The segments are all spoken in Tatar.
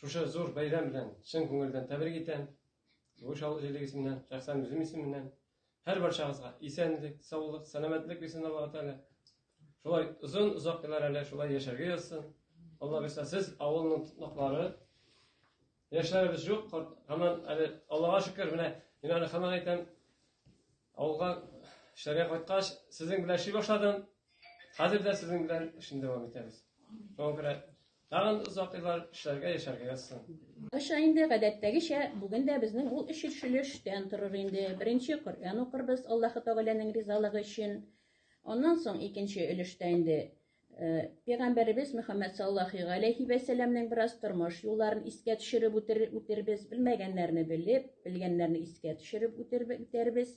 Шушы зур бәйрәм белән чын күңелдән тәбрик итәм. Югыш авыл җирлеге исеменнән, шәхсән үзем исеменнән. Һәр барчагызга исәнлек, саулык, сәламәтлек бирсен Аллаһу Тәгалә. Шулай озын озак еллар әле шулай яшәргә язсын. Алла бирсә, сез авылның тотнаклары. Яшьләребез юк, һаман әле Аллага шөкер, менә мин әле һаман әйтәм, авылга эшләргә кайткач, сезнең белән эшли башладым. Хәзер дә сезнең белән эшне дәвам итәбез. Шуңа күрә Тагын озак еллар эшләргә, яшәргә язсын. Аша инде гадәттәгечә, бүген дә безнең ул эчелшелештән торыр инде. Беренче Коръән укырбыз, Аллаһы Тәгаләнең ризалыгы өчен. Аннан соң икенче өлештә инде Пәйгамбәребез Мөхәммәд саллахи галәйһи вә сәләмнең бераз тормыш юлларын искә төшереп үтербез, белмәгәннәрне белеп, белгәннәрне искә төшереп үтербез.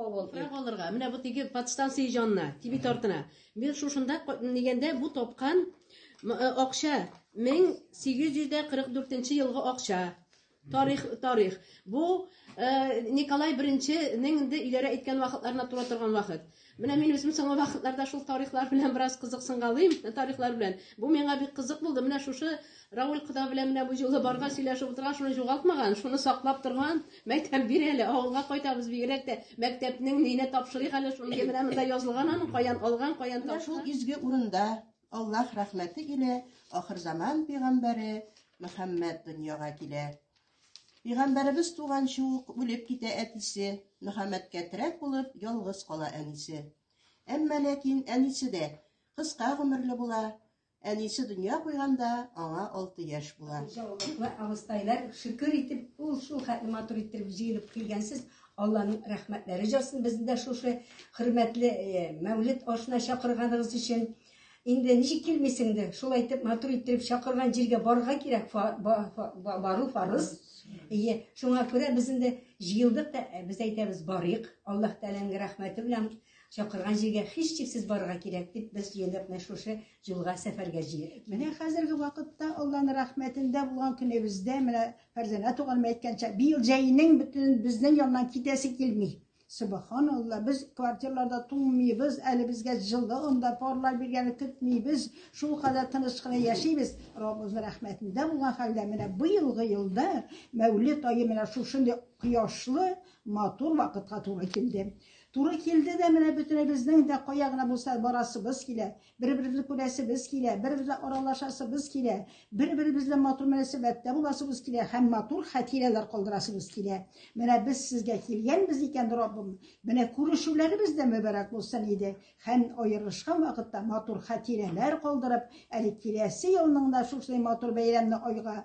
Туфрак алырга. Менә бу теге подстанция җанына, тиби тартына. Мин шушында дигәндә бу тапкан э, акча 1844 елгы акча. Тарих, тарих. Бу э, Николай беренченең инде иләрә әйткән вакытларына туры торган вакыт. Менә мин үзем соңгы вакытларда шул тарихлар белән бераз кызыксынгалыйм, тарихлар белән. Бу миңа бик кызык булды. Менә шушы Равил кода белән менә бу җылы барга сөйләшеп утырган, шуны җугалтмаган, шуны саклап торган. Мәктәп бир әле, авылга кайтабыз бигрәк тә. Мәктәпнең ненә тапшырыйк әле, шуны менә монда язылган аның, каян алган, каян тапкан. Менә шул изге урында Аллаһ рәхмәте илә ахырзаман пигамбәре Мөхәммәд дөньяга килә. Пигамбәребез туганчы ук үлеп китә әтисе, Мөхәммәдкә терәк булып ялгыз кала әнисе. Әмма ләкин әнисе дә кыска гомерле була, Әнисе дөнья куйганда аңа алты яшь була. Хуҗалыклы абыстайлар шөкер итеп, ул шул хәтле матур иттереп җыелып килгәнсез, Алланың рәхмәтләре җасын безне дә шушы хөрмәтле э, мәүлет ашына чакырганыгыз өчен. Инде ничек килмисеңдер, шул әйтеп матур иттереп чакырган җиргә барырга кирәк, фа, ба, фа, ба, бару фарыз. Ие, шуңа күрә без инде җыелдык та, э, без әйтәбез, барыйк. Аллаһ Тәгаләнең рәхмәте белән Чакырган җиргә һичшиксез барырга кирәк, дип без җыендык менә шушы юлга, сәфәргә җыелып. Менә хәзерге вакытта Алланың рәхмәтендә булган көнебездә, менә Фәрзәнә туганым әйткәнчә, быел җәйнең бөтен безнең яннан китәсе килми. Субхан Алла, без квартирларда туңмыйбыз, әле безгә җылы анда парлар биргәне көтмибез, шул кадәр тыныч кына яшибез. Раббыбызның рәхмәтендә булган хәлдә менә быелгы елда Мәүлид ае менә шушындый кояшлы, матур вакытка туры килде. Туры килде дә менә бөтенебезнең дә кая гына булса барасыбыз килә, бер-беребезне күрәсебез килә, бер-беребезне аралашасыбыз килә, бер-беребезне матур мөнәсәбәттә буласыбыз килә һәм матур хатирәләр калдырасыбыз килә. Менә без сезгә килгәнбез икән, Раббым, менә күрешүләребез дә мөбарәк булсын иде һәм аерылышкан вакытта матур хатирәләр калдырып, әле киләсе елның да шушындый матур бәйрәмне айга